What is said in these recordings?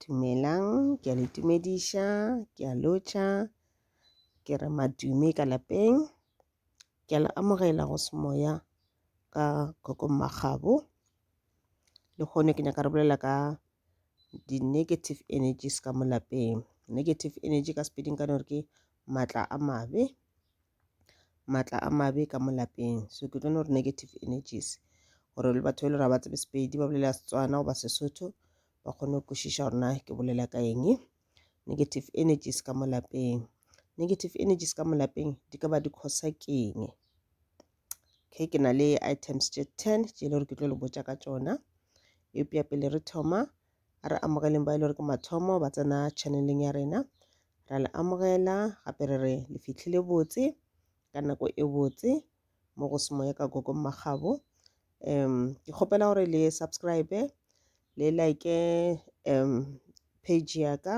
Dumelang, ke a le tumediša, ke a lotšha, ke re madume ka lapeng. Ke a le amogela go semoya ka Kgokong Makgabo. Lehono ke nyaka re bolela ka di-negative energies ka mo lapeng negative energy ka sepeding ka gore ke maatla a mabe maatla a mabe ka mo lapeng so ke tlo no gore negative energies gore le batho ba e le gore ga ba tsebe sepedi ba bolela setswana goba sesotho ba kgone go kwešiša gore na ke bolela ka eng negative energies ka mo lapeng negative energies ka mo lapeng di ka ba di kgosa keng okay ke na le items tše ten tše e le gore ke tlo le botša ka tšona eupša pele re thoma a re amogeleng ba e le gore ke mathomo ba tsena channeleng ya rena ra le amogela gape re re le fitlhile botse ka nako e botse mo go semoya ka gogo mmagabo um ke kgopela gore le subscribe le like um page ya ka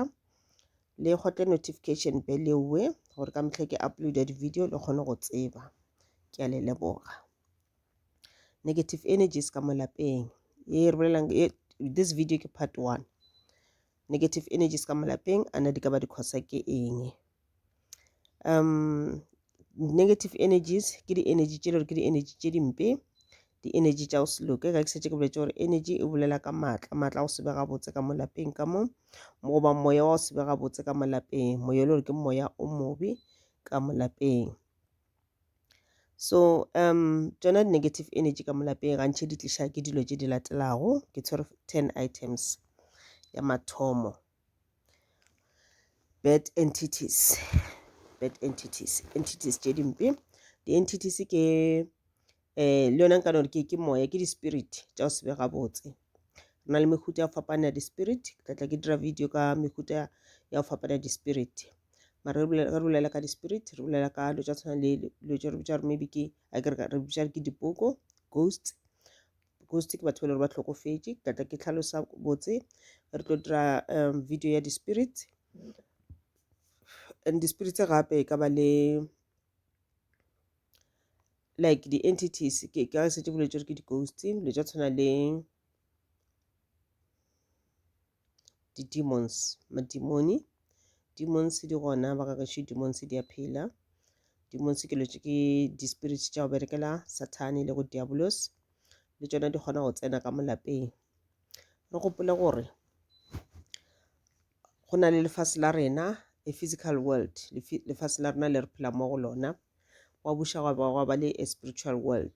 le gotle notification bell ewe gore ka mehla ke uploada di-video le kgone go tseba ke a le leboga negative energies ka mo lapeng ye re bolelang this video ke part one negative energies ka mo lapeng a na di ka ba di khosa ke eng um negative energies ke di-energy tše le gore ke di-energy tše dimpe di-energy tša go se loke ka ke setse ke boletse gore energy e bolela ka maatla maatla go sebega botse ka molapeng ka mo goba moya wa go sebega botse ka molapeng moya e le gore ke moya o mobe ka molapeng so um tsona di-negative energy ka molapeng gantšhe di tliša ke dilo tše di latelago ke tshwere ten items ya mathomo bad entities bad entities entities tše dimpe di-entities ke um le yona nka no ke ke moya ke di-spirit tša go se be gabotse re na le mehuta ya go fapana ya di-spirit ke tla tla ke dira video ka mehuta ya go fapana ya di-spirit mara re bolela ka di-spirit re bolela ka dilo tša tshwana le dilo tše re bitša gore maybe ke a ke re bitša ke dipoko ghosts because ke batho ba le gore ba tlhokofetše ke tlatla ke tlhalosa botse re tlo dira um video ya di-spirit and di-spirit tse gape e ka ba le like di-entities ke ka setse boletse gore ke di-ghost le tša tshwana le di-demons madimoni demons di gona ba ka gešo demons di a phela demons ke lotše ke di-spirit tša go berekela sathane le go diabolos le tšona di kgona go tsena ka molapeng re gopole gore go na le lefase la rena a physical world lefase la rena le re phela mo go lona wa buša gwa ba le a spiritual world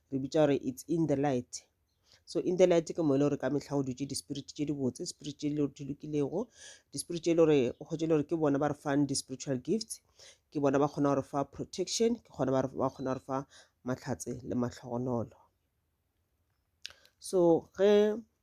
re bitša gore it's in the light so in the light ke mo e le gore ka mehla go dutše di-spirit tše di botse spirit tše le di lokilego di-spirit tše e le gore o kgotse e le gore ke bona ba re fang di-spiritual gifts ke bona ba kgona gore fa protection ke kgona ba kgona gore fa mahlatse le mahlogonolo so ge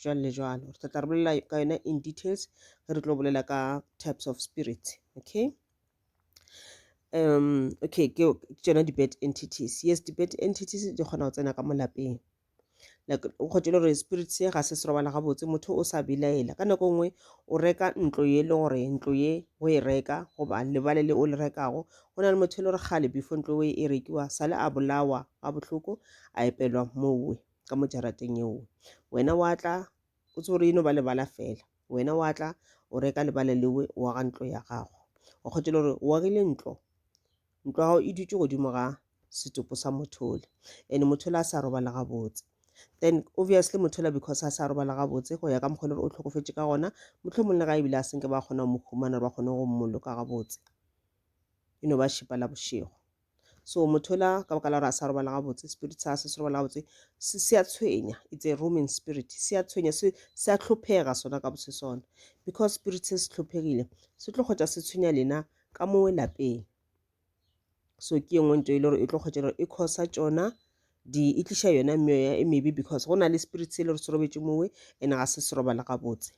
jwalo le jwalo re tla tla re bolela ka yona in details ge re tlo bolela ka types of spirits okay um okay ke tsona di-bad entities yes di-bad entities di kgona go tsena ka mo lapeng like o kgotile gore spirit se ga se se robala gabotse motho o sa bilaela ka nako nngwe o reka ntlo ye le gore ntlo ye o e reka goba lebale le o le rekago go na le motho e le gore gale before ntlo e rekiwa sale a bolawa ga bohloko a epelwa mowe ka mo jarateng yeo wena wa tla o tsore eno ba lebala fela wena wa tla o reka lebala lewe wa ga ntlo ya gago wa kgotela gore o agile ntlo ntlo ya gago e dutse godimo ga setopo sa mothole and mothole a sa robala gabotse then obviously mothola because a sa robala gabotse go ya ka mokgwa gore o tlhokofetse ka gona motlho mongwe le ga ebile a senke ba kgona go mo humana ba kgone go mmoloka gabotse e no ba šipa la bošego so motho ola ka baka la gore a sa robala gabotse spirit sa se se robala gabotse se se a tshwenya it's a rooming spirit se a tshwenya se se a tlhophega sona ka botse sona because spirit se se tlhophegile se tlo kgotsa se tshwenya lena ka mo lapeng so ke yengwe nto e le gore e tlo kgotsa gore e khosa tsona di e tliša yona meoya e mebe because go na le spirit se e le gore se robetse mowe and ga se se robala gabotse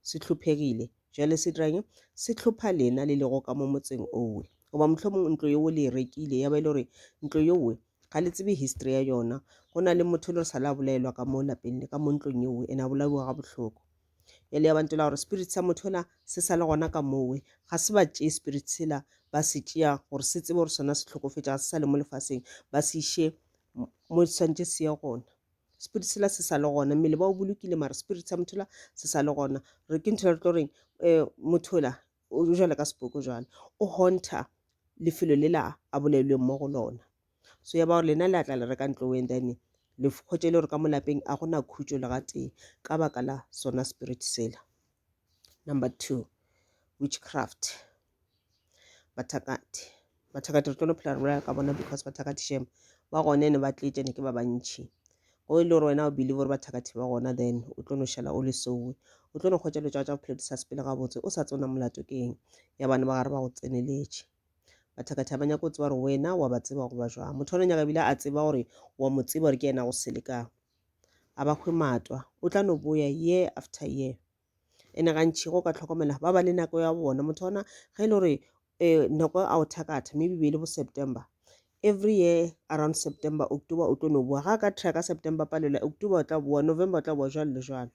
se hlophegile. Bjale se dirang? Se hlopha lena le lego ka mo motseng owe. Goba mohlomong ntlo yeo le e rekile, ya ba e le gore ntlo yowe ga le tsebe history ya yona. Go na le motho le sa la bolaelwa ka mo lapeng le ka mo ntlong yeo, ene a bolaiwa ga bohloko. Bjale ya ba ntela gore spirit sa motho la se sa le gona ka mowe, ga se ba tšee spirit sela ba se tšea gore se tsebe gore sona se tlhokofetša, ga se sa le mo lefaseng, ba se iše mo santše se ye gona. spirit sela se sa le gona mmele ba o bolokile mara spirit sa motho la se sa le gona re ke ntho re tlo reng um motho la o jale ka sepoko jale o honta lefelo le la a bolelweng mo go lona so ya ba gore lena le a tla le reka ntlo wen then le kgotse le gore ka mo lapeng a gona khutso le gatee ka baka la sona spirit sela number two witchcraft bathakati bathakati re tlo phela re bolela ka bona because bathakati shem ba gone ne ba tletše ne ke ba bantšhi go e le gore wena o believe gore bathakati ba gona then o tlo no šala o le sowe o tlo no kgwetša dilo tša tša bophelo di sa sepele gabotse o sa tsona molato ke eng ya bana ba gare ba go tseneletše bathakati ga ba nyako tseba gore wena wa ba tseba goba jwang motho one nyaka ebile a tseba gore wa mo tseba gore ke yena go selekago a ba hwe matwa o tla no boya year after year ene gantši go ka tlhokomela ba ba le nako ya bona motho ona ge e le gore um nako a o thakatha maybe be e le bo september every year around september october o tlo no boa ga a ka track ka september palela october o tla boa november o tla boa jalo le jalo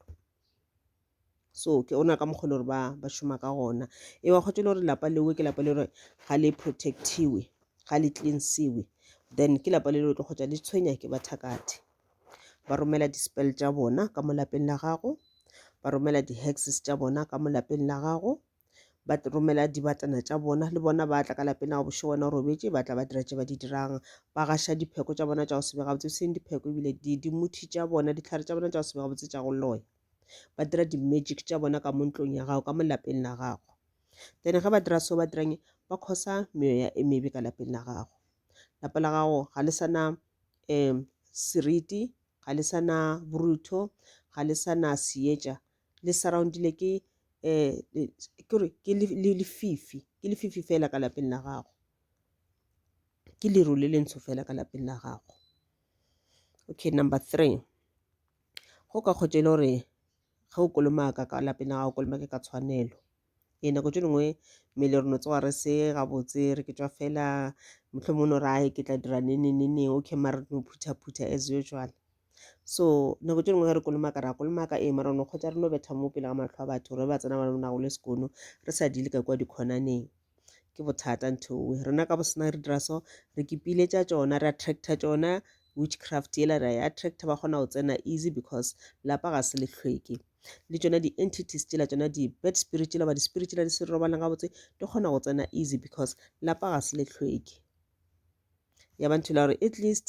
so ke ona ka mokgwa e le gore ba ba šoma ka gona e wa kgotse e le gore lapa leo ke lapa le gore ga le protectiwe ga le cleansiwe then ke lapa le le tlo kgotsa le tshwenya ke bathakathe ba romela di-spell tša bona ka mo lapeng la gago ba romela di-hexes tša bona ka mo lapeng la gago ba romela dibatana tša bona le bona ba tla ka lapeng la go bošo wena o robetše ba tla ba dira tše ba di dirang ba gaša dipheko tša bona tša go sebe gabotse e seng dipheko ebile dimuthi tša bona ditlhare tša bona tša go sebe gabotse tša go loya ba dira di-magic tša bona ka mo ntlong ya gago ka mo lapeng la gago then ge ba dira seo ba dirang ba khosa meoya e mebe ka lapeng la gago lapa la gago ga le sana um seriti, ga le sa na borutho, ga le sa na seetša, le surroundile ke um kore ke lefifi, ke lefifi fela ka lapeng la gago, ke leru le lentsho fela ka lapeng la gago. Okay, number three, go ka kgotša e le gore ge o kolomaka ka lapeng la gago, kolomake ka tshwanelo. ee nako tše dingwe mmele re no tsoga re se gabotse re ke tšwa fela mohlomong o no re ae ke tla dira nenenene okay mara no phuthaphutha as usual so nako tše dingwe ge re kolomaka ra kolomaka ee mara no kgotsa re no betha mo pele ga matlho a batho re ba tsena ba na go le sekono re sa dile ka kwa dikhonaneng ke bothata ntho owe rena ka bosena re dira so re kipile tša tšona re attracta tšona witchcraft yela ra e attracta ba kgona go tsena easy because lapa ga se lehlweke le tšona di entities tšela tšona di bad spirit tšela ba di spirit tšela di se robalang gabotse di kgona go tsena easy because lapa ga se le hlweke ya ba nthula gore at least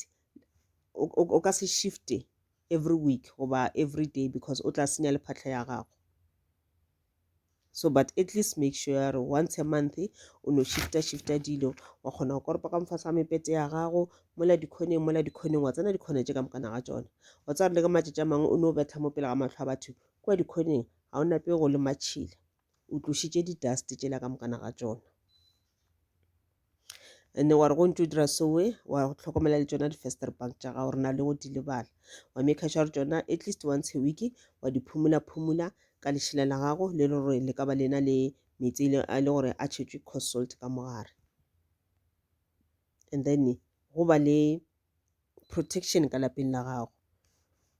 o ka se shifte every week goba every day because o tla senya le phatlha ya gago so but at least make sure ya gore once a month o no shifta shifta dilo wa kgona go koropa ka mofasa mepete ya gago mola dikhoneng mola dikhoneng wa tsena dikhona tše ka mokana ga tsona wa tsaya le ka matšatši a mangwe o ne o betla mo pele ga matlho a batho kua dikhoneng ga o nape go le matšhila o tlošitše di-dust tšela ka mokana ga tsona and wa re go ntse o dira soe wa tlhokomela le tsona di-fester bank tša gago re na le go di lebala wa maker sure tsona at least once a week wa di phumula phumula ka lešela la gago le le gore le ka ba lena le metsi e a le gore a tšhetšwe cost salt ka mogare and then go ba le protection ka lapeng la gago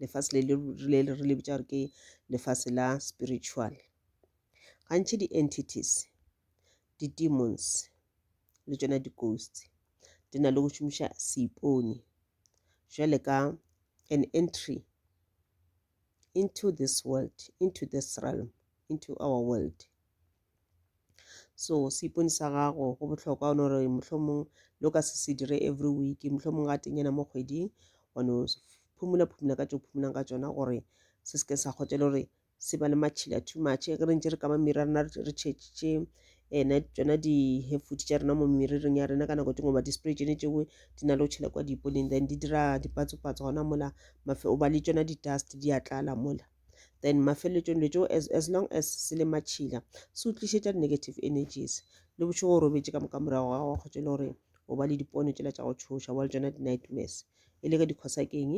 lefase le le re le bitsa gore ke lefase la spiritual gantši di-entities di-demons le tsona di-ghost di na le go šomiša seipone jwale ka an entry into this world into this realm into our world so seipone sa gago go bohlokwa one gore mohlomong lo ka se se dire every week mohlomong ga tenyana mo kgweding one phumula phumula ka tso phumulang ka tsona gore se seke sa kgotsa le gore se ba le matšhila too much ge re ntse re kama mmiri rena re tšhetše ena eh, tsona di-hefood tša rena mo mmirireng ya rena ka nako tengwe ba di-spray tsone tšewe di na le go tšhela kwa diponeng then di dira dipatsopatso gona mola mafe o ba le tsona di-dust di a tlala mola then mafeletšong le tšo as, as long as se le matšhila se o tlišetša negative energies le bošego o robetše ka moka morago ga go tšele gore o ba le dipono tšela tša go tšhoša wa le tsona di-nightmares e le ka dikhosa keng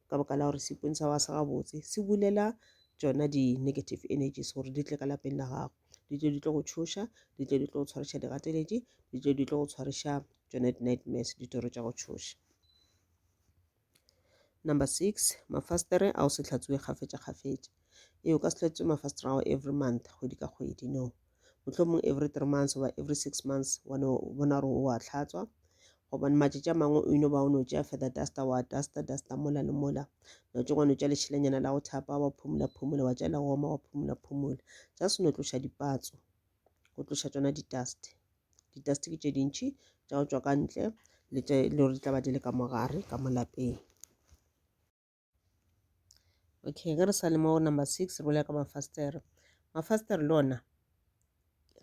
ka baka la gore seipone sa wa sa gabotse se bulela tsona di-negative energies gore di tle ka lapeng la gago di tle di tlo go tšhoša di tle di tlo go tshwariša digateletše di tle di tlo go tshwariša tsona di-nightmares ditoro tša go tšhoša Number six, mafasitere a o se hlatswiwe kgafetša kgafetša. Ee, o ka se hlatswe mafasitere ao every month, kgwedi ka kgwedi, no. Mohlomong every three months goba every six months wa no bona gore o a hlatswa. Gobane matšatši a mangwe o ino ba o no tšea feather duster wa duster duster mola le mola. No tšo wa no tšea lešelanyana la go thapa wa phumula phumula wa tšea la go oma wa phumula phumula. Just no tloša dipatso. go tloša tsona di-dust di-dust ke tše dintšhi tša go tšwa ka ntle le tše le gore di tla ba di le ka mogare ka mo lapeng okay ge re sa le mo number six re bolela ka mafastere mafastere le ona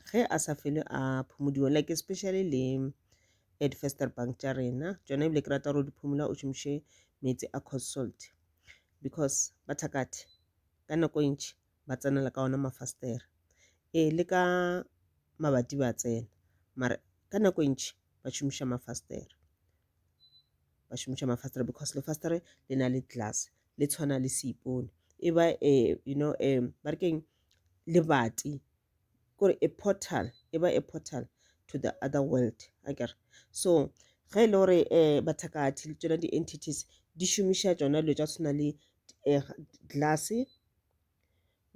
ge a sa fele a phomodiwa like especially le edfester bank tša rena tsona ebile ke rata gore o di phomola o šomiše meetse a cold salt because ba thakathe ka nako e ntšhi ba tsenela ka ona mafastere ee le ka mabati ba tsena mara ka nako e ntši ba šomiša mafastere ba šomiša mafastere because lefastere le na le glass le tshwana le seipone e ba um you know um ba re keng lebati kore a portal e ba a portal to the other world a kere so ge e le gore um bathakathi le tsona di-entities di šomiša tsona dilo tša tshwana le um glass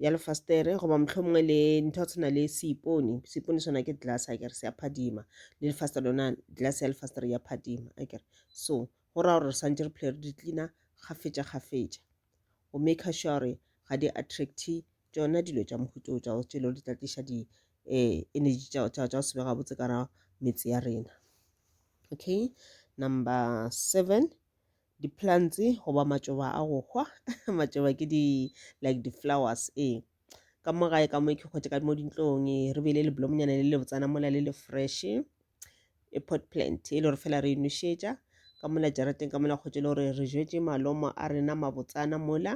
ya lefastere goba mohlomongwe le ntho ya tshwana le seipone seipone sona ke glass a kere se ya phadima le lefastere lona glass ya lefastere ya phadima a kere so go raya gore re swantse re phele re di tlina kgafetša kgafetša go maker sure gore ga di attracte tšona dilo tša mohuto tša go tšelo di tla tliša di um energy tša go sebe gabotse ka ra metse ya rena okay number seven di-plants goba matšoba a go hwa matšoba ke di like di-flowers ee ka mo gae ka mo ke kgotse ka mo dintlong ee, re beile leblomonyana le le botsana mola le le fresh e pot plant e le gore fela re e nošetša ka mola jarateng ka mola kgotse le gore re jetse malomo a rena mabotsana mola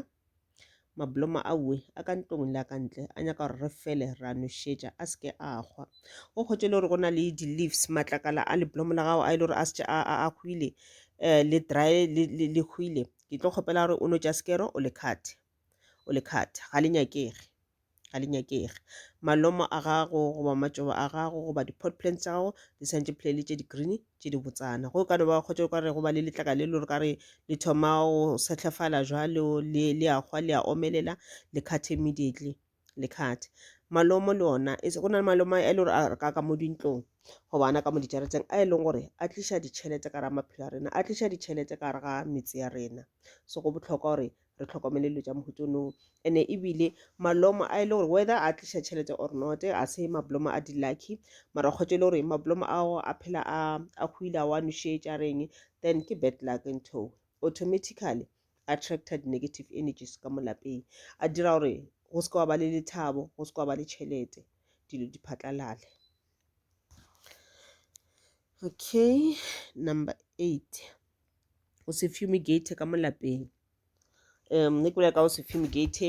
Mablomo a ue a ka ntlong le a ka ntle a nyaka gore re fele ra nošetša a seke a kgwa. O kgotše le gore go na le di-leaves matlakala a leblomo la gago a e le gore a setse a a hwile um le dry le le le hwile ke tlo kgopela gore o no tša sekero o le khathe o le khathe ga le nyakege. ga di nyakege malomo a gago goba matšoba a gago goba di-pot plants tsa gago di santše phelele tše di-green tše di botsana go ka no ba kgotse ka re go ba le letlaka le lore ka re le thoma go setlhefala jalo le le a gwa le a omelela le cut immediately le cut malomo le ona e go na le malomo a e le gore a re ka ka mo dintlong go bana ka mo dijaretseng a e leng gore a tliša ditšhelete ka ra maphelo a rena a tliša ditšhelete ka re ga metse ya rena so go botlhokwa gore re tlhokomele dilo tša mohuta ono ene ebile malomo a e le gore whether a tliša tšhelete or not a se mablomo a di-lucky mara kgotsa e le gore mablomo ao a phela a a hwile a wa nošetša reng then ke bad luck ntho automatically attracted negative energies ka mo lapeng a dira gore go se ka wa ba le lethabo go se ka wa ba le tšhelete dilo di phatlalale okay number eight o se fumigate ka mo lapeng um ne ke bolela ka o se fumigate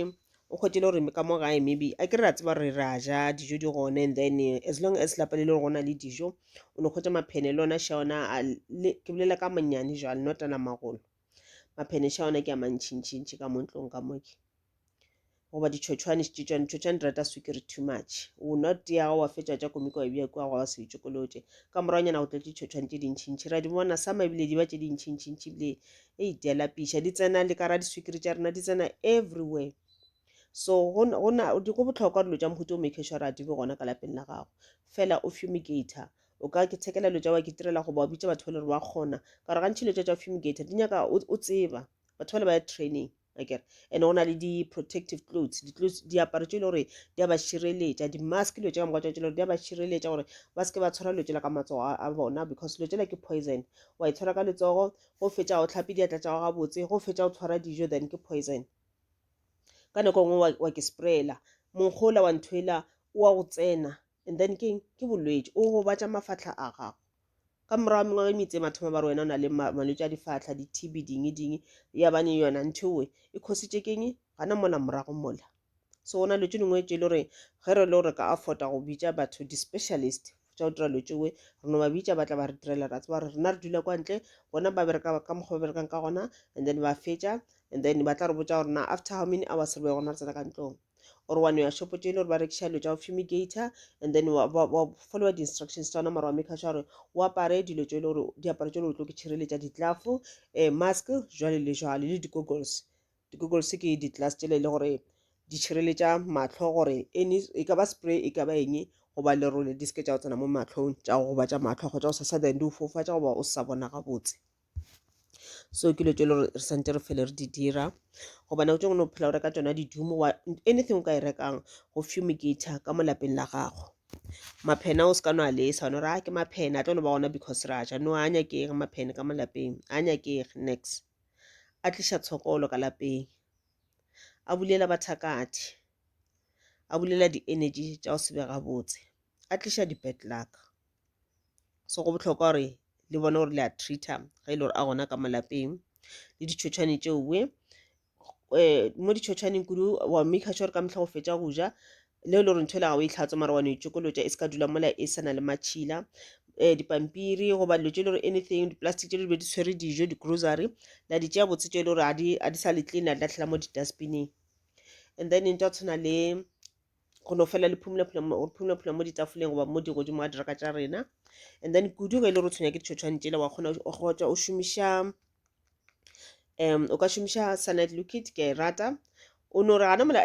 o kgwetele gore ka mo gae maybe a ke re ra tseba re ra ja dijo di gone and then eh, as long as lapa le le gore go na le dijo o ne kgwetsa maphene le ona sha ona a le- ke bolela ka manyane jwale notana magolo maphene sha ona ke a mantšhintšhintšhi ka mo ntlong ka moke goba ditšhotšhwane ditšhotšhwane ditšhotšhwane di rata swikiri too much o nwa tea gago wa fetša tša komiko wa bja kua go wa se itšokolotše ka moragonyana go tla ditšhotšhwane tše dintšhintšhi ra di bona sama ebile di ba tše dintšhintšhintšhi ebile e itea lapiša di tsena le ka ra diswikiri tša rena di tsena everywhere so go bohlokwa dilo tša mohuta o make sure a di be gona ka lapeng la gago fela o fumigator o ka ke tshekela dilo tša wa ke tirela goba o bitša batho ba le gore ba kgona ka gore gantšhi dilo tša tša fumigator di nyaka o tseba batho ba le ba ya training akere and go na le di-protective clothes di-clothes diaparo tše e le gore di a ba šireletša di-mask dilo tše ka moka tša tše le gore di a ba šireletša gore ba seke ba tshwara dilo tšela ka matsogo a bona because dilo tšela ke poison wa e tshwara ka letsogo go fetša go tlhape diatla tša go gabotse go fetša go tshwara dijo then ke poison ka nako e nngwe wa ke sprayela monkgola wa nthwela wa go tsena And then ke eng? Ke bolwetši, o gobatša mafahla a gago. Ka morago wa mengwaga e mitse mathoma ba re wena o na le malwetši a difahla, di-TB, dingi dingi. Ya bane yona nthoe e khositše keng? Gana mola morago mola. So ona lwetši lengwe tše e le gore ge re le gore ka afforda go bitša batho di-specialist tša go dira lwetši we re no ba bitša ba tla ba re direla ra tseba gore rena re dula kwa ntle bona ba bereka ka mokgwa ba berekang ka gona and then ba fetša and then ba tla re botša gore na after how many hours re be gona re tsena ka ntlong or wa no ya shopo tše e le gore ba rekiša dilo tša go fumigator and then wa, wa, wa followa di-instructions tsa ona mara wa make sure gore o apare dilo tše e le gore diaparo tše e le gore tlo ke tšhireletša ditlafo um eh, mask jwale le jwale le di-goggles di-goggles ke di-glass tšele e le gore di tšhireletša matlho gore any e ka ba spray e ka ba eng goba lerole di seke tša go tsena mo matlhong tša go gobatša matlho kgotsa go sasa then di o fofatša goba o sa bona gabotse so ke dilo tse e le gore re santse re phele re di dira goba nako tse ngwe o phela o reka tsona di-doom wa anything o ka e rekang go fumigator ka mo lapeng la gago maphena o se ka no a lesa one gore a ke maphena a tlo no ba gona because ra ja no a nyakege maphene ka mo lapeng a nyakege next a tliša tshokolo ka lapeng a bulela bathakadi a bulela di-energy tša go se be gabotse a tliša di-bad luck. so go bohlokwa gore le bone gore le a treater ge e le gore a gona ka malapeng le ditšhotšhwane tšeo we eh, mo ditšhotšhwaneng kudu wa maker sure ka mehla go fetša go ja le e le gore ntho e le ga o e tlhatso mara wa no itšokolotša e se ka dula mola e sa na le matšhila um dipampiri goba dilo tše e le gore anything di-plastic tše di be di tshwere dijo di-grocery la di tšea botse tše e le gore ga di sa le clean a di latlhela mo di-dustbineng and then ntwa tshwana le go no fela le phumulaphula mo ditafoleng goba mo di godimo a diraka tša rena and then kudu ge e le gore o tshwenya ke ditšhotšhwane tšela wa kgona gotsa o šomiša um o ka šomiša sanite liquid ke a e rata o no re gana mola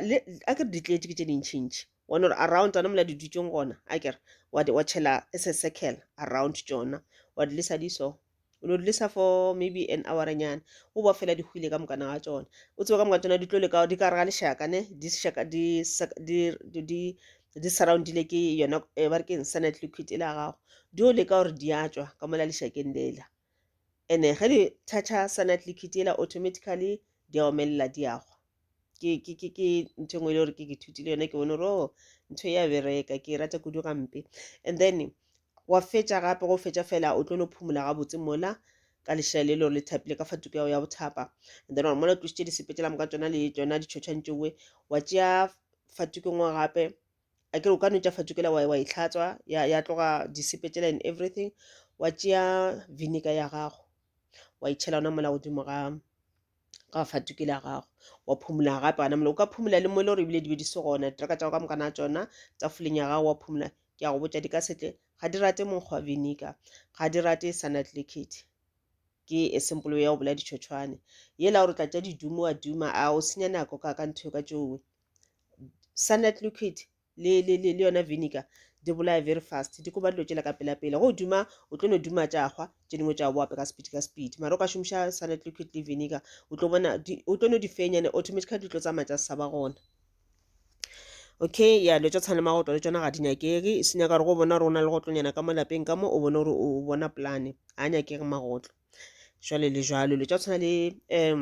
a ke re ditleetse ke tše dintšhintšhi wa no re around tsona mola di dutšeng gona a kere wa tšhela se circle around tšona wa di lesa di so o no dulisa for maybe an houranyana o boa fela di hwile ka mokana wa tsona o tsebe ka moka tsona di tlo leka di ka re ga lešaka ne di šaka di sak- di di- di di surroundile ke yona eh, ba re ke insanet liquid e la gago di o leka gore di a tswa ka mola lešakeng lela ene ge di thatha sanat liquid ela automatically di a omelela di a gwa ke ke ke ke ntho engwe e le gore ke ke thutile yone ke bone gore o oh, ntho ya bereka ke e rata kudu gampe and then wa fetša gape go fetša fela o tlo no phumola gabotse mola ka lešela le lore le thapile ka fa tuku yago ya bothapa and then gore mola o tlositše disepetsela moka tsona le tsona ditšhotšhwantšowe wa tšea fa tukeng wa gape a kere o ka no tša fatukela wa, wa e hlatswa ya, ya tloga disepe tšela and everything wa tšea vinegar ya gago wa e tšhela ona mola godimo ga ga fatukela ya gago wa phumula gape gana mola o ka phumula le mo e le gore ebile di be di se gona diteraka tša go ka moka na tšona tsa fuleng ya gago wa phumula ke a go botša di ka setle ga di rate monkgwa vinegar ga di rate sanat liquid ke e simple ya go bola ditšhotšhwane yela gore tla tša didumo wa duma a o senya nako ka ka ntho ka tšowe cyanide liquid le, le, le, le yona vinegar di bolaya very fast di koba dilo tšela ka pelapela go duma o tlo no duma tša hwa tše dingwe tša boape ka speed ka speed mara o ka šomiša cyanide liquid le vinegar o tlo bona o tlo no di fenyane automatically di tlo tsamaya tsa saba gona okay ya dilo tša tshwana le magotlo le tsona ga di nyakege se nyaka gore go bona gore o na le gotlonyana ka mo lapeng ka mo o bone gore o bona polane ga nyakege magotlo jwale le jwalo dilo tša tshwana le um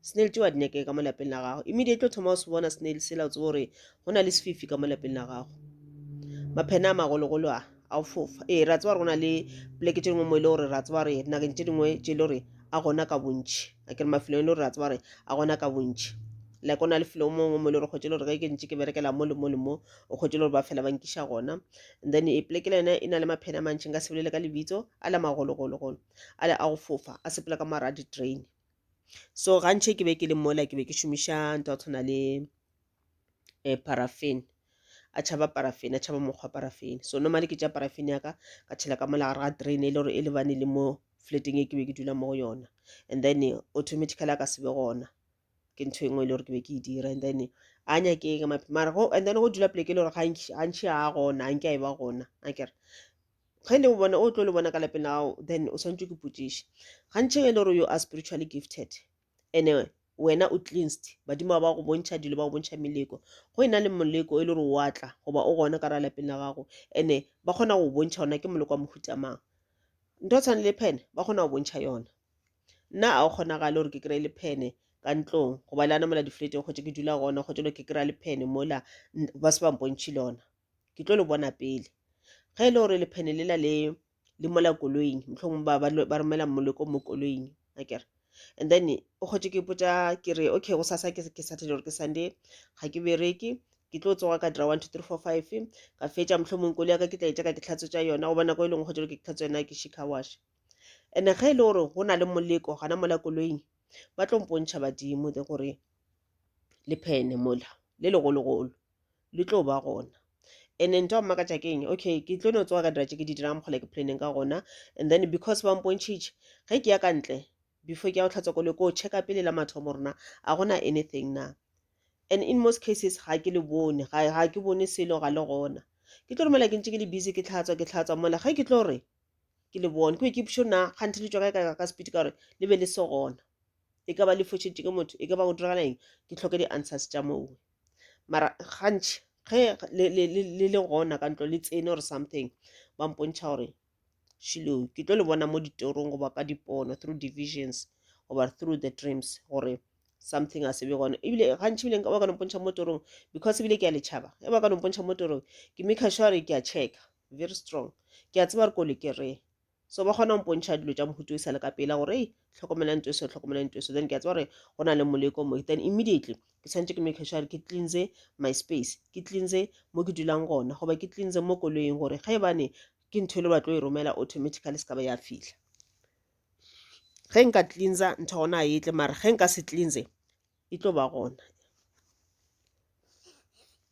snail tšewa di nyakege ka mo lapeng la gago immediately o thoma o se bona snail sela o tsebo gore go na le sefifi ka mo lapeng la gago maphena a magologolo a a o fofa ee ra tseba gore go na le poleke tše dingwe mo e le gore ra tseba gore dinakeng tše dingwe tše e le gore a gona ka bontšhi a kere mafelong e le gore ra tseba gore a gona ka bontšhi like o na le felo mongwe mo e le gore kgotse e le gore ge ke ntse ke berekela mo le mo le mo o kgotse e le gore ba fela ba nkiša gona and then e poleke le yone e na le maphena a mantšhi nka sebelele ka lebitso a le magologologolo a le a go fofa a sepela ka mara a di-train so gantši ke be ke le mola ke be ke šomiša ntho ya tshwana le um paraffin a tšhaba paraffin a tšhaba mokgwa paraffin so normally ke tša paraffin ya ka ka tšhela ka mola gare ga drain e le gore e lebane le mo flateng e ke be ke dula mo go yona and then automatically a ka sebe gona ke ntho engwe e le gore ke be ke e dira and then a nyakeke maphi mara go and then go dula pleke e le gore gantši ga gona a nke a e ba gona a kere ge le o bona o tlo le bona ka lapeng la gago then o swanetše ke potšiše gantšhe e le gore you are spiritually gifted ene wena o cleansed badimo ba ba go bontšha dilo ba go bontšha meleko go e na le moleko e le gore wa tla goba o gona ka ra lapeng la gago ene ba kgona go bontšha ona ke moleko wa mohutamang ntho tshwane le phene ba kgona go bontšha yona nna a o kgonagale gore ke kry-e le phene ka ntlong goba le ana mola difleteng kgotse ke dula gona kgotse lo ke kry-a le phene mola ba se bampontšhe le ona ke tlo le bona pele ge e le gore lephene lela le le mola koloing mohlong ba ba romela moleko mo koloing a kere and then o kgotse ke ipotsa ke re okay go sasa ke saturday gore ke sunday ga ke bereke ke tlo tsoga ka dira one two three four five ka fetša mohlomong kolo ya ka ke tla e tša ka ke tlhatswetsa yona go bona ko e leng go kgotse ke tlhatswa yona ke shika wash and ge e le gore go na le moleko gana mola koloing ba tlo mpontšha badimo de gore le phene mola le legologolo le tlo ba gona and ntho ya mmakatša ke eng okay ke tlo no tsoga ka dira tše ke di dirang mokgole ke planeng ka gona and then because ba mpontšhitše ge ke ya ka ntle before ke ya go tlhatswa koloi ko checka pele la mathomo rona a gona anything na and in most cases ga ke le bone ga ke bone selo ga le gona ke tlo romela ke ntse ke le busy ke tlhatswa ke tlhatswa mola ge ke tlo re ke le bone ke be ke pšo na kganthe le tswa ka ka speed ka gore le be le se gona e ka ba le fošetše ke motho e ka ba go diragala eng ke tlhoke di-answers tša mowe mara gantši ge le, le, le, le le gona ka ntlo le tsene or something ba mpontšha gore shilo ke tlo le bona mo ditorong goba ka dipono through divisions goba through the dreams gore something a se be gone ebile gantši ebile ba ka nompontšha mo torong because ebile ke a letšhaba e ba ka nompontšha mo torong ke make sure ke a checka very strong ke a tseba gore kole ke re so ba kgona go mpontšha dilo tša mohuto e sale ka pela gore ei tlhokomelang to eso tlhokomelang to eso then ke a tse gore go na le moleko mo then immediately ke tshwanetse ke make sure ke cleanse my space ke cleanse mo ke dulang gona goba ke cleanse mo koloing gore ga e bane ke ntho e le batlo e romela automatically se ka ba ya fitlha ge nka cleansa ntho gona a etle mara ge nka se cleanse e tlo ba gona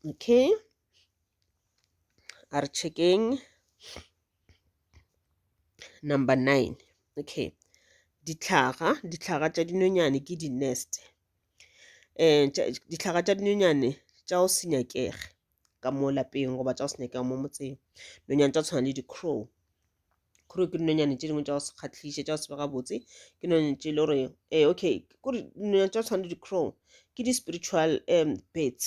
okay a re checkeng Number nine, okay. Dihlaga, dihlaga tša dinonyane ke di-nest. Um dihlaga tša dinonyane tša go se nyakege ka mo lapeng goba tša go se nyakege mo motseng. Nonyane tša tshwana le di-crow. Crow ke dinonyane tše dingwe tša go se kgathliše, tša go se be gabotse. Ke nonyane tše e le gore, ee okay, kore dinonyane tša tshwana le di-crow ke di-spiritual birds.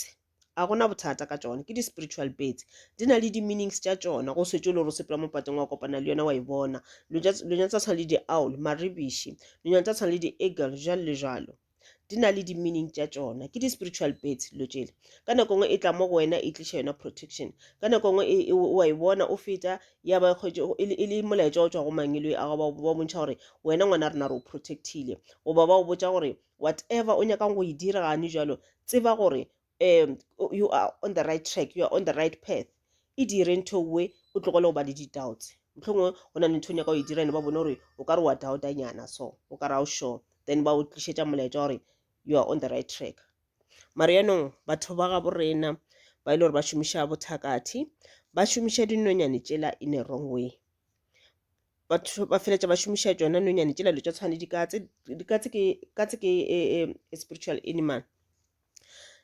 a gona bothata ka tšona ke di-spiritual pets di na le di-meanings tša tšona go swetše le gore o sepela mo pateng wa kopana le yona wa e bona lonyana tsa tshwana le di-owl maribiši lonyana tsa tshwana le di-eagle jalo le jalo di na le di-meaning tša tšona ke di-spiritual pets dilo tšele ka nako nngwe e tla mo go wena e tliša yona protection ka nako nngwe e, e, wa e bona o feta ya ba kgwetše e, e le molaetša o tswa go mangelo a ba bontšha gore wena ngwana rena re o protectile goba ba o botša gore whatever o nyakang go e dira gane jalo tseba gore um you are on the right track you are on the right path e dire ntho we o tlogele go ba le di-doubts mohlongwe go na le ntho o nyaka go e dira ene ba bone gore o ka re wa doubtanyana so o ka ra o sure then ba o tlišetša molaetša gore you are on the right track mare yaanong batho ba gabo rena ba e le gore ba šomiša bothakathi ba šomiša dinonyane tšela in a wrong way batho ba feleletša ba šomiša tšona nonyane tšela dilo tša tshwane dikatse dikatse ke katse ke e, e, e spiritual animal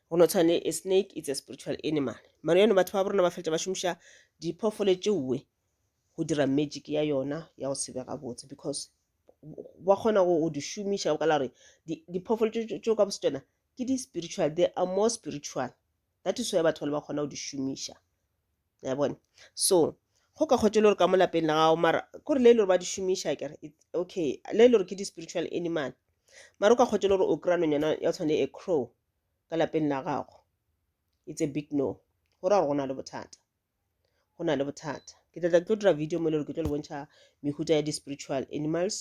go no tshwane a snake it's a spiritual animal mara yone batho ba borona ba feleletša ba šomiša diphoofolo tšeoe go dira magic ya yona ya go sebega botse because ba kgona go di šomiša o ka la gore diphoofolo tšeo ka bosetšana ke di-spiritual they are more spiritual that is why batho ba le ba kgona go di šomiša ya bone so go ka kgotse le gore ka mo lapeng la gago mara kore le e le gore ba di šomiša kere okay le e le gore ke di-spiritual animal mara o ka kgotse le gore o kry-a nonyana ya tshwane le a crow ka lapeng la gago it's a big no go ra gore go na le bothata go na le bothata ke tla tla ke tlo dira video mo e le gore ke tlo le bontšha mehuta ya di-spiritual animals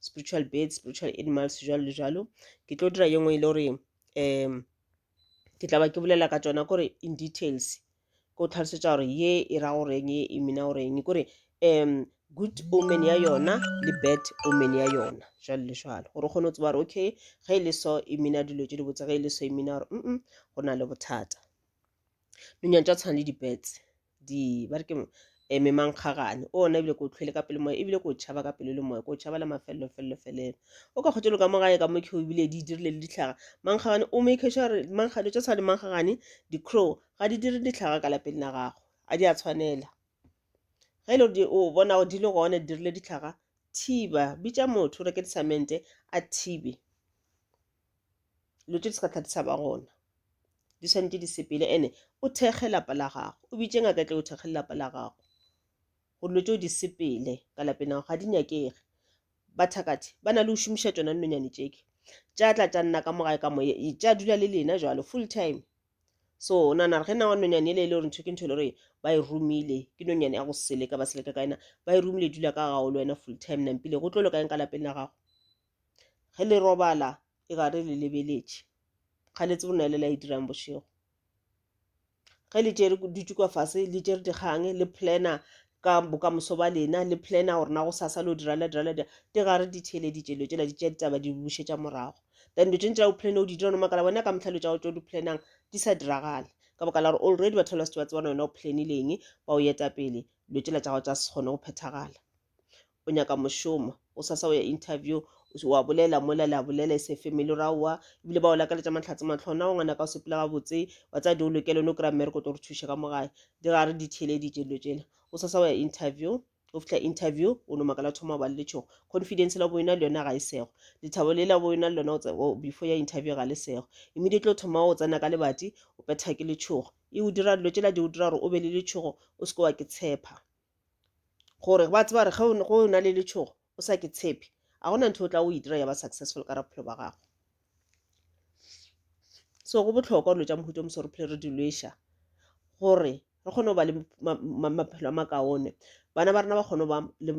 spiritual birds spiritual animals jalo le jalo ke tlo dira ye nngwe e le gore um ke tla ba ke bolela ka tsona kore in details ko tlhalosetsa gore ye e ra goreng ye e mina goreng kore um good omen ya yona le bad omen ya yona jalo le jalo gore o kgone go tseba gore okay ge e le so e mina dilo tse di botse ge e le so e mina gore mm go na le bothata dinonyane tša tshwana le di-birds di ba re ke um memankgagane o ona ebile ko o tlhwele ka pele moya ebile ko o tšhaba ka pelo le moya ko o tšhaba le mafelelo felelo felelo o ka kgotšelo ka mo gae ka mo keo ebile di dirile le ditlhaga mankgagane o make sure gore mankgane tša tshwana le mankgagane di-crow ga di dire ditlhaga ka lapeng la gago a di a tshwanela ge e le gore o bona gore di le gone di dirile ditlhaga thiba bitša motho o reke di-cemente a thibe dilo tše di sa thata tshaba gona di swanetše di sepele ene o thekge lapa la gago o bitše ngaka e tle o thekge lelapa la gago go dilo tšeo di sepele ka lapeng la gago ga di nyakege bathakathi ba na le go šomiša tsona dinonyane tšeke tša tla tša nna ka mogae ka moye tša dula le lena jalo full time so o nana re ge na wa nonyane ele e le gore ntho ke ntho e le gore ba e romile ke nonyane ya go seleka ba seleka ka ena ba e romile dula ka gago le wena full time nampile go tlo loka eng ka lapeng la gago ge le robala e gare le lebeletše ga le tsebe na le la e dirang bošego ge le tšere dutše kwa fase le tšere dikgang le planner ka bokamoso ba lena le planner gore na go sasa lo dira la dira la dira di gare di theeleditše dilo tšela di tšea ditaba di bušetša morago then dilo tše ntša o planner o di dira no makala wena ka mohlalo tša go tšo di plannang di sa diragale ka baka la gore already batho ba se ba tsebana wena o planileng ba o eta pele dilo tšela tša go tsa se kgone go phethagala o nyaka mošomo o sa sa o ya interview wa bolela mola le a bolela e se family ra wa ebile ba o lakaletša mahlatse matlho na o ngwana ka o sepela gabotse wa tsaya di o lokele one o kry-a mmereko to re thuše ka mogae di ga re di theeleditše dilo tšela o sa sa o ya interview o fitlha interview o no makala thoma o ba le letšhogo confidence la bo yona le yona ga e sego lethabo le la bo yona le lona o tsa- o- before ya interview ga le sego immediately o thoma o tsena ka lebati o petha ke letšhogo e o dira dilo tšela di o dira gore o be le letšhogo o se ke wa ke tshepa gore ba tseba gore ge o na le letšhogo o sa ke tshepe ga gona ntho o tla o e dira ya ba successful ka rabophelo ba gago so go botlhokwa dilo tša mohuto mosore phele re di lweša gore re kgone go ba le maphelo a makaone bana ba rena ba kgone ba le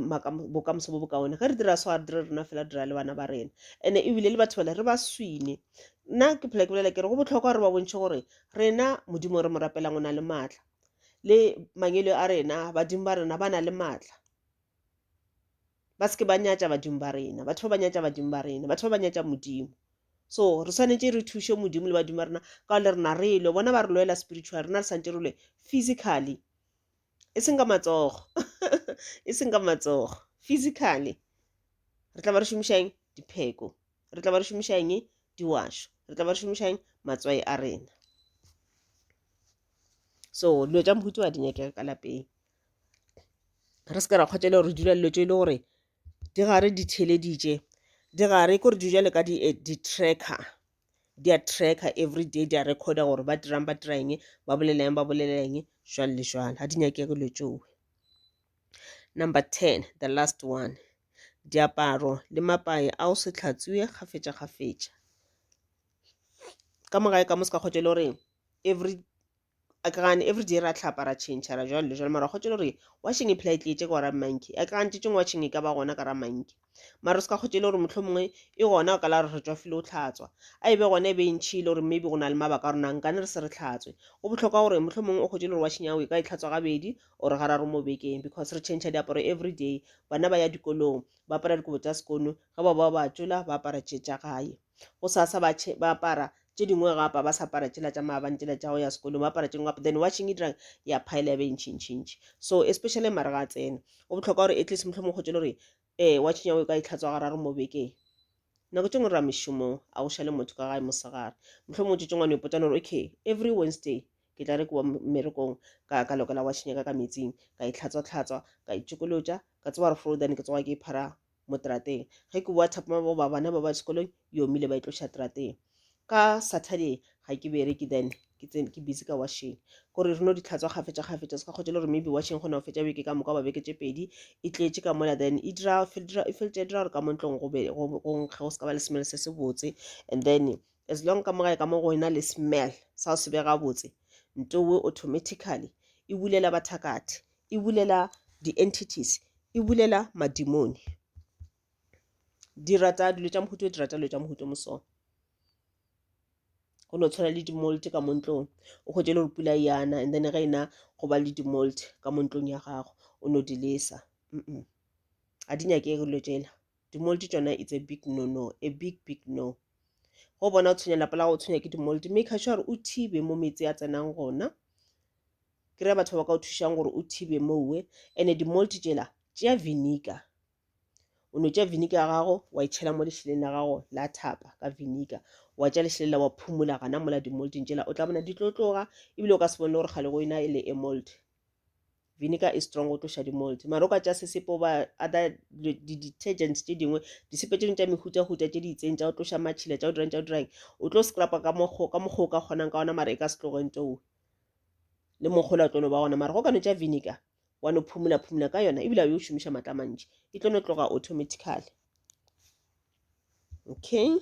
bokamoso bo bokaone ge re dira so a dire rena fela dira le bana ba rena ande ebile le batho bale re ba swine nna ke phela ke bolela ke re go botlhokwa gore ba bontšhe gore rena modimo re mo rapelang o na le maatla le mangwele a rena badimo ba rena ba na le maatla ba se ke ba nyatša badimo ba rena batho ba ba nyatša badimo ba rena batho ba ba nyatša modimo so re swanetše re thuše modimo le badimo ba rena ka le rena re lwe bona ba re lwela spiritual rena re santše re lwe physically e seng ka matsogo e seng ka matsogo physically re tla ba re šomišang dipheko re tla ba re šomišang diwašo re tla ba re šomišang matswai a rena so dilo tša mohuta wa di nyakega ka lapeng re se ka ra kgotšela gore dula dilo tše e le gore di gare di theleditše di gare kore di jale ka eh, di-tracker di a tracker every day di a recorda gore ba dirang ba dira eng ba boleleng ba boleleng jwalo le jwalo ga di nyakege dilo tšeo number ten the last one diaparo le mapae a o se tlhatswe kgafetša kgafetša ka mogae ka mo se ka kgotšele gore every a ke gane every day ra tlhapa ra change ra jwale jwale mara kgotse le gore washing e phela e tletse ka ra monkey a ke gane tšetšeng washing e ka ba gona ka ra monkey mara se ka kgotse le gore motlho mongwe e gona ka la re tswa file o tlhatswa a e be gona e be e ntšhi le gore maybe go na le mabaka rona nka ne re se re tlhatswe go botlhokwa gore motlho mongwe o kgotse le gore washing yago e ka e tlhatswa gabedi or gararo mo bekeng because re change diaparo every day bana ba ya dikolong ba apara dikobo tsa sekono ge ba ba ba tšola ba apara tše tša gae go sa sa ba ba apara tše dingwe ga apa ba sa apara tšela tša maabane tšela tša go ya sekolong ba apara tše dingwe then washing e dirang ya phaela ya be e ntšhintšhintši so especially mare ga a tsena go bohlokwa gore at least mohlho mo kgotse le gore um wa tšhinya o ka itlhatswa ga raro mo bekeng nako tše ngwe ra mešomong a go šale motho ka gae mosegare mohlho mo tšetseng wane ipotsane gore okay every wednesday ke tla re ke wa mmerekong ka ka lokela wa tšhinyaka ka metsing ka itlhatswa-tlhatswa ka itšokolotša ka tseba gore fro then ke tsoga ke iphara mo trateng ge ke boa thapama bo ba bana ba ba sekolong e omile ba e tloša trateng ka saturday ga ke bereke then ke tsene ke busy ka washing gore re no di tlhatswa gafetša gafetša se ka kgotse le gore maybe washing gona go fetša beke ka moka ba beke tše pedi e tletše ka mola then e dira e feletša e dira gore ka mo ntlong go nkge go se ka ba le smell se se botse and then as long ka mogae ka mo go ena le smell sa go se be gabotse ntowe automatically e bulela bathakathe e bulela di-entities, e bulela madimoni. Di rata dilo tša mohuta o, di rata dilo tša mohuta o mo so. Go no tshwana le di-moult ka mo ntlong, o hwetše e le gore pula e yana and then ge e na go ba le di-moult ka mo ntlong ya gago, o no di lesa. Mm-mm. Ga di nyake dilo tšela. Di-moult tšona it's a big no-no, a big big no. Go bona o tshwenya lapa la gago, o tshwenya ke di-moult, maker sure gore o thibe mo meetse a tsenang gona. kry-a batho ba ka o thušang gore o thibe mowe and-e di-molt tšela tšea vinegar o no tšea vinegar ya gago wa e tšhela mo lešheleng la gago la thapa ka vinegar wa tša lešheleng la wa phumula gana mola di-molting tšela o tla bona di tlo tloga ebile o ka se bone gore kgale go ena e le e molt vinegar e strong go tloša di-molt mara o ka tša sesepo ba other di-detergents tše dingwe disepe tše dingwe tša mehutahuta tše di itseng tša go tloša matšhila tša go dirang tša go dirang o tlo scrapa ka mokgo ka mokgo o ka kgonang ka ona mara e ka se tloge nto le mokgola o tlo no ba gona mara go ka no tša vinegar wa no phumula phumula ka yona ebile a yo šomiša matla mantši e tlo no tloga automatically okay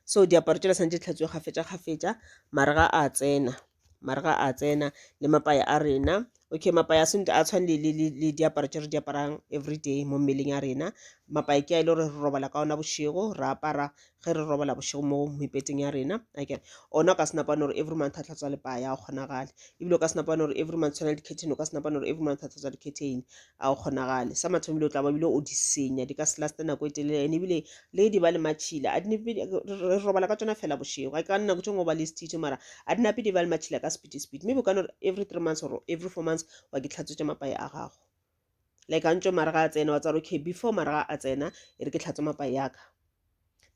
so diaparo tšela santse tlhatswe kgafetša kgafetša marega a tsena marega a tsena le mapaya a rena Okay mapa ya sento a tshwane le le le diaparo tše re di aparang everyday mo mmeleng ya rena. Mapa ke a e le gore re robala ka ona bošego, re apara ge re robala bošego mo mepeteng ya rena. Okay. Ona o ka se napane gore every month a tlhatswa lipaya, ga go kgonagale. Ebile o ka se napane gore every month tshwana le di-curtain, o ka se napane gore every month a tlhatswa di-curtain, ga go kgonagale. Sa mathomo ebile o tla ba ebile o di senya, di ka se laste nako e telele and ebile le di ba le matšhila a dinape re robala ka tsona fela bošego ga ka nako tše ngwe ba le stitše mara a dinape di ba le matšhila ka speedy speed maybe o ka no re every three months or every four months wa ke tlhatswetša mapae a gago like a ntšo mara ga a tsena wa tsara okay before mara ga a tsena e re ke tlhatswe mapae yaka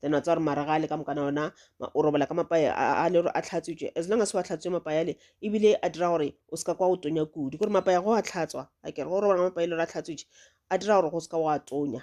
then wa tsara mara ga a le ka mokana ona o robala ka mapae a le gore a tlhatswetše as long as wa tlhatswe mapae ale ebile a dira gore o seka kwa o tonya kudu gore mapae go a tlhatswa a kere go robala mapae e le gore a tlhatswetše a dira gore go seka wa tonya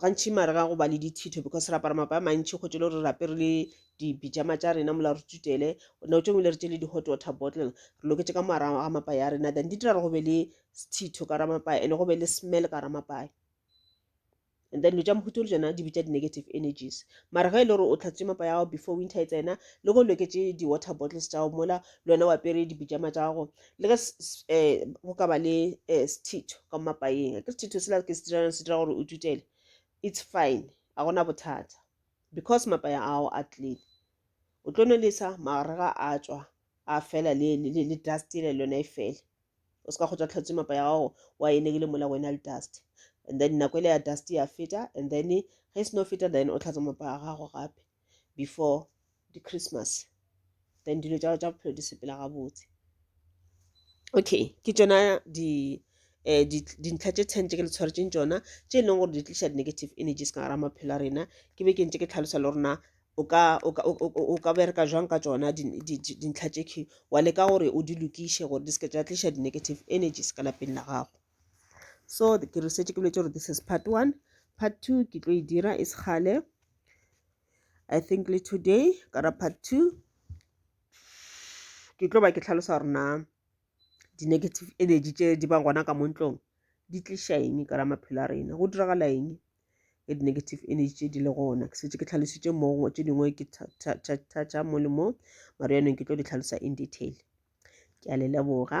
gantši mare ga go ba le dithitho because re apara mapa a mantšhi go tšele gore re apere le dibijama tša rena mola re tutele nao tše ngwe le re tše le di-hot water bottle re loketše ka moara ga mapa ya rena then di dira gore go be le sethitho ka ramapaya and go be le smell ka ramapaya and then lo tša mohuto le tsona di bitša di-negative energies mara ge e le gore o tlhatsitše mapa ya gago before winter e tsena le go loketše di-water bottles tša gago mola le wena o apere dibijama tša gago le ge um go ka ba le um sethitho ka mo mapaeng a ke sethitho sela ke se dirang se dira gore o tutele it's fine a gona bothata because mapaya ao a clean o tlo nolesa magare ga a tswa a fela le, le, le, le dust ele lona e fele o se ka go tswa tlhatswe mapaya gago wa e negile mola wena le dust and then nako ele ya dust ya feta and then ge e seno feta then o tlhatsa mapaya gago gape before di christmas then dilo tša tša bophelo di sepela gabotse okay ke tšona di um dintlha tše ten tše ke le tshwaretseng tšona tše e leng gore di tliša di-negative energies ka gara maphelo a rena ke be ke ntse ke tlhalosa le rona o ka o ka o ka bereka jwang ka tsona dintlha tše key wa leka gore o di lokiše gore di seke tša tliša di-negative energies ka lapeng la gago so ke re setse ke boletse gore this is part one part two ke tlo e dira e sekgale i think le today kara part two ke tlo ba ke tlhalosa gore na di-negative energy tse di bang gona ka mo ntlong di tliša eng ka ra maphelo a rena go diragala eng e di-negative energy tse di le gona ke setse ke tlhalositse mongwe tse dingwe ke thatša mo le mo mara yanong ke tlo di tlhalosa in detail ke a le leboga